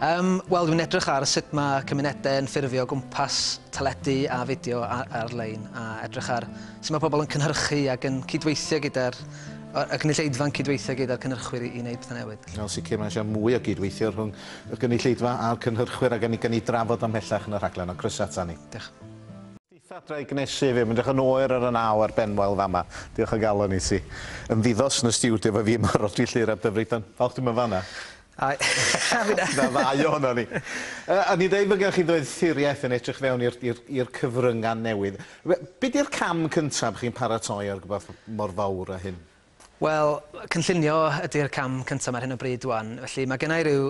Yym, wel dwi'n edrych ar sut mae cymunedau yn ffurfio gwmpas teledu a fideo ar-lein a edrych ar sut mae pobl yn cynhyrchu ac yn cydweithio gyda'r y gynulleidfa'n cydweithio gyda'r cynhyrchwyr i wneud pethau newydd. Yn sicr mae eisiau mwy o gydweithio rhwng y gynulleidfa a'r cynhyrchwyr a gawn ni drafod o ymhellach yn y rhaglen ond croeso ata ni. Diolch. Fedrai gnesu i fi. Mae'n edrych yn oer ar y naw a'r benwael fama. Diolch o galon i ti. Ymddiddos yn y stiwdio efo fi yma ar ol tri llyr ar Dyfrig dan. Falch dim yn fanna. A fi'n a-. 'Na ddau ohonon ni. Yy o'n i'n deud bod gennych chi ddoethuriaeth yn edrych fewn i'r i'r i'r cyfrynga' newydd. Be' 'di'r cam cyntaf chi'n paratoi ar rwbath mor fawr â hyn? Wel, cynllunio ydy'r cam cyntaf ar hyn o bryd ŵan. Felly, mae gennau rhyw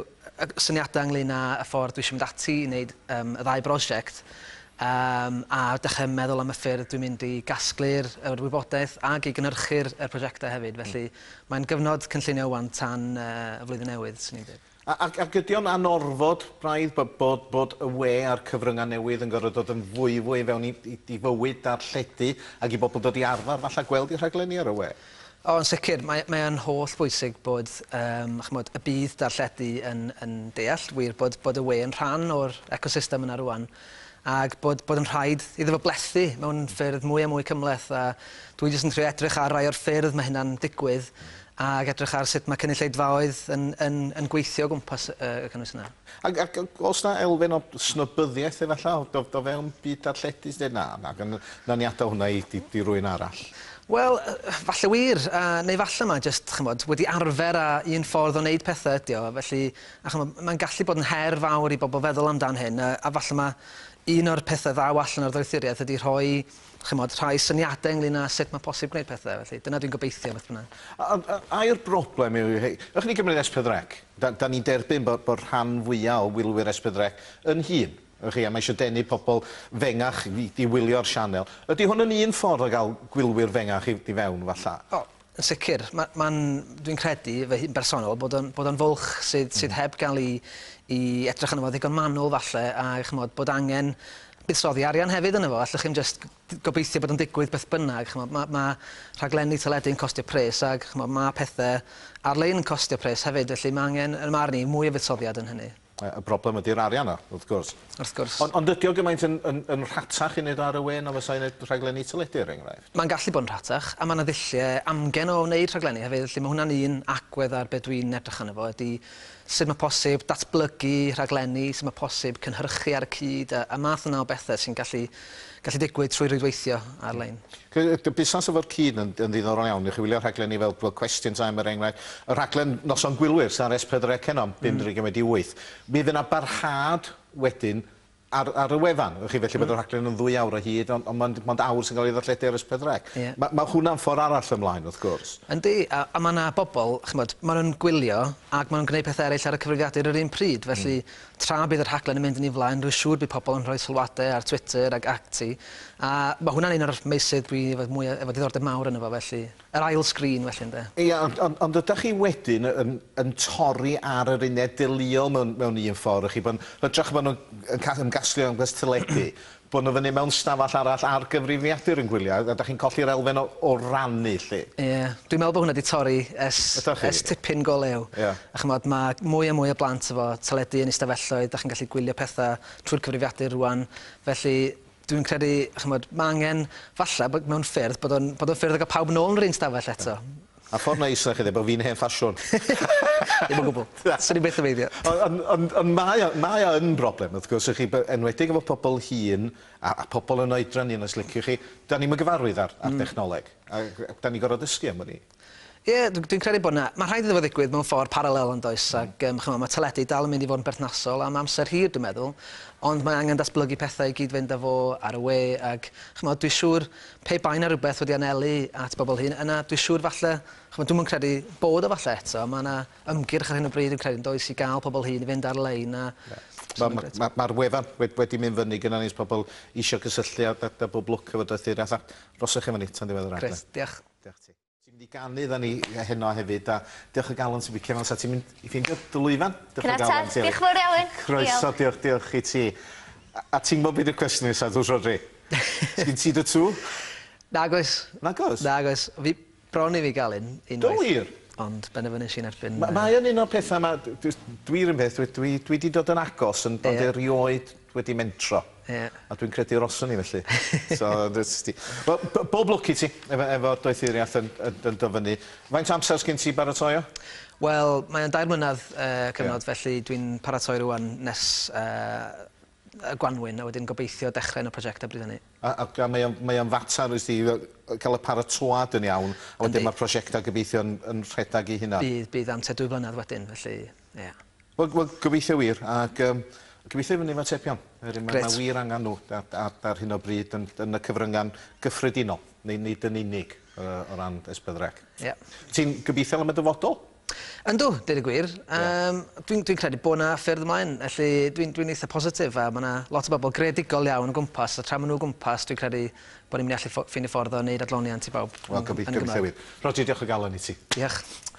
syniadau ynglyn â y ffordd dwi eisiau mynd ati i wneud um, y ddau brosiect, um, a dechrau meddwl am y ffyrdd dwi'n mynd i gasglu'r yr wybodaeth ac i gynnyrchu'r er prosiectau hefyd. Felly, mm. mae'n gyfnod cynllunio ŵan tan uh, y flwyddyn newydd, sy'n ni'n dweud. A, ac, ac ydy o'n anorfod, braidd, bod, bod, bod y we a'r cyfryngau newydd yn gorfod dod yn fwy, fwy fewn i, i, i fywyd darlledu ac i bobl dod i arfer, falle, gweld eu rhaglenni ar y we? O, yn sicr. Mae, mae o'n holl bwysig bod, um, chymod, y byd darlledu yn, yn deall, wir, bod, bod y we yn rhan o'r ecosystem yna rwan, ac bod, bod yn rhaid iddo fo blethu mewn ffyrdd mwy a mwy cymhleth, a dwi jyst yn trio edrych ar rai o'r ffyrdd mae hynna'n digwydd, Ac edrych ar sut mae cynulleidfaoedd yn, yn, yn gweithio o gwmpas y cynnwys yna. Ac, ac os na elfen o snobyddiaeth efallai, o, o fewn byd darlledu sy'n dweud, na, na, nawn ni adael hwnna i, i, i rwy'n arall? Wel, falle wir, a, neu falle mae jyst, chymod, wedi arfer a un ffordd o wneud pethau ydi o, felly, a chymod, mae'n gallu bod yn her fawr i bobl feddwl amdan hyn, a, a falle mae un o'r pethau ddaw allan o'r ddoethuriaeth ydi rhoi chimod, rhai syniadau ynglyn â sut mae posib gwneud pethau, felly dyna dwi'n gobeithio beth bynnag. A, a, a yw'r broblem yw, hei, ych chi'n cymryd Espeddrec, da, da ni'n derbyn bod, bod rhan fwyaf o wylwyr Espeddrec yn hŷn, ych chi, a mae eisiau denu pobl fengach i, i wylio'r sianel. Ydy hwn yn un ffordd o gael gwylwyr fengach i, i fewn, falla? O, Yn sicr. Ma, ma'n, dwi'n credu, fy hun bersonol, bod o'n, bod o'n fwlch sydd, mm. sydd hmm. heb gael i, i edrych yn fo ddigon manwl falle, a chymod, bod angen buddsoddi arian hefyd yn efo. Allwch chi'n just gobeithio bod o'n digwydd beth bynnag. Chymod, mae, ma rhaglenni teledu yn costio pres ac chymod, mae pethau ar-lein yn costio pres hefyd, felly mae angen, yn marn i, mwy o fuddsoddiad yn hynny. Y broblem ydy'r arian 'na, wrth gwrs. Wrth gwrs. Ond ond ydi o gymaint yn yn yn rhatach i neud o ar y we na fysa i neud rhaglenni teledu er enghraifft? Ma'n gallu bod yn rhatach, a ma' 'na ddullie amgen o wneud rhaglenni hefyd, felly ma' hwnna'n un agwedd ar be' dwi'n edrych arno fo ydi sut ma' posib datblygu rhaglenni, sut ma' posib cynhyrchu ar y cyd a a math yna o bethe sy'n gallu gallu digwydd trwy rwydweithio ar-lein. Busnes efo'r cyd yn yn ddiddorol iawn. Newch chi wylio rhaglen ni fel fel Question Time er enghraifft. Y rhaglen Noson Gwylwyr sy' ar S4 C heno am 7.30-8. Mi fydd yna barhad wedyn ar ar y wefan. Wch chi felly bod y rhaglen yn ddwy awr o hyd ond ond mond mond awr sy'n cael ei ddarlledu ar S4 C. Ie. Ma' ma' hwnna'n ffor' arall ymlaen wrth gwrs. Yndi a a ma' 'na bobol ch'mod ma' nw'n gwylio ag ma' nw'n gneud pethe eryll ar y cyfrifiadur yr un pryd felly Tra bydd y rhaglen yn mynd yn ei flaen, rwy'n siŵr bydd pobl yn rhoi sylwadau ar Twitter ac ati, a mae hwnna'n un o'r meysydd dwi efo mwya, efo diddordeb mawr ynddo fo felly. Yr ail sgrin felly ynde? Ia, ond, ond, ond ydach chi wedyn yn, yn torri ar yr uned deuluol mewn, mewn un ffordd, y'ch chi, pan, hytrach na bod nhw'n yn ca- ymgasglu o amgylch teledu, bod nhw fyny mewn stafell arall ar gyfrifiadur yn gwylio a dach chi'n colli'r elfen o o rannu 'lly. Ie. Dwi'n meddwl bod hwnna 'di torri ers... Ydach chi? ...ers tipyn go lew. Ie. A ch'mod ma' mwy a mwy o blant efo teledu yn eu stafelloedd, dach chi'n gallu gwylio petha trwy'r cyfrifiadur rŵan, felly dwi'n credu ch'mod ma' angen falla bod mewn ffyrdd bod o'n bod o'n ffyrdd o ga'l pawb nôl yn yr un stafell eto. A ffordd neis na chi ddeud bod fi'n hen ffasiwn. Ddim o gwbl. Na. Swn i byth yn meindio. O- on- ond ond mae o mae o yn broblem wrth gwrs i chi by- enwedig efo pobol hŷn a a pobol yn oedran hŷn os liciwch chi. 'Dan ni'm yn gyfarwydd â'r â'r dechnoleg a g- a 'dan ni'n gor'o' dysgu am wn i. Ie dw- dwi'n credu bod 'na... Ma' rhaid iddo fo ddigwydd mewn ffordd parallel yndoes ag yym ch'mo' ma' teledu dal yn mynd i fod yn berthnasol am amser hir dwi'n meddwl ond mae angen datblygu pethe i gyd-fynd â fo ar y we ag ch'mod dwi siŵr Pe bai 'na rywbeth wedi anelu at bobl hŷn, yna dwi siŵr falle, ch'mod, dwi'm yn credu bod o falle eto, ma' 'na ymgyrch ar hyn o bryd dwi'n credu yndoes i ga'l pobl hŷn i fynd ar-lein a... Ie. Wel ma' ma' ma'r wefan wed- wedi mynd fyny gynnon ni 's pobl isio cysylltu â â â Bob Lwc efo doethi'r athrawon. Rhoswch chi efo ni tan ddiwedd yr adran. Grêt, diolch. Diolch ti. Ti'n mynd i ganu dda ni heno hefyd a diolch o galon ti'n bicio mewn sa ti'n mynd i ffeindio dy lwyfan? Diolch o galon ti. Diolch fawr iawn. Croeso diolch diolch i ti. A ti'n gwybod beth yw'r cwestiwn nesa dwys Rhodri? Sgin ti dy tŵ? Nag oes. Nag oes? Nag oes. Fi bron i fi gael un unwaith. Do wir? Ond benderfynes i'n erbyn... Mae o'n un o'r pethau 'ma dwi 'run peth dwi dwi 'di dod yn agos ond erioed wedi mentro. Ie. A dwi'n credu yr oswn i felly. So, ti. Wel, bob lwc i ti efo, efo doethuriaeth yn, yn, yn dyfynnu. Faint amser sgyn ti baratoi o? Wel, mae'n dair mlynedd uh, cyfnod, yeah. felly dwi'n paratoi rwan nes uh, y gwanwyn, a wedyn gobeithio dechrau yn y prosiectau bryd hynny. A, a, a mae o'n mae o fater wrth i cael y paratoad yn iawn, a wedyn mae'r prosiectau gobeithio yn, yn rhedeg i hynna? Bydd, bydd amser dwy flynedd wedyn, felly... Ia. Wel wel gobeithio wir ag yym gobeithio i fynny efo atebion. Oherwydd ma' ma' wir angan nhw a- a- ar hyn o bryd yn yn y cyfrynga'n gyffredinol neu nid yn unig yy o ran Esbydrec. Ia. Ti'n gobeithiol am y dyfodol? Yndw, deud y gwir. Yym dwi'n dwi'n credu bod 'na ffyrdd ymlaen felly dwi'n dwi'n eitha positif a ma' 'na lot o bobl greadigol iawn o gwmpas a tra ma' nhw o gwmpas dwi'n credu bod ni'n mynd i allu ffo- ffeindio ffordd o wneud adloniant i bawb yn yn y Gymraeg. Wel gobeith- gobeithio wir. Rhodri diolch o galon i ti. Diolch.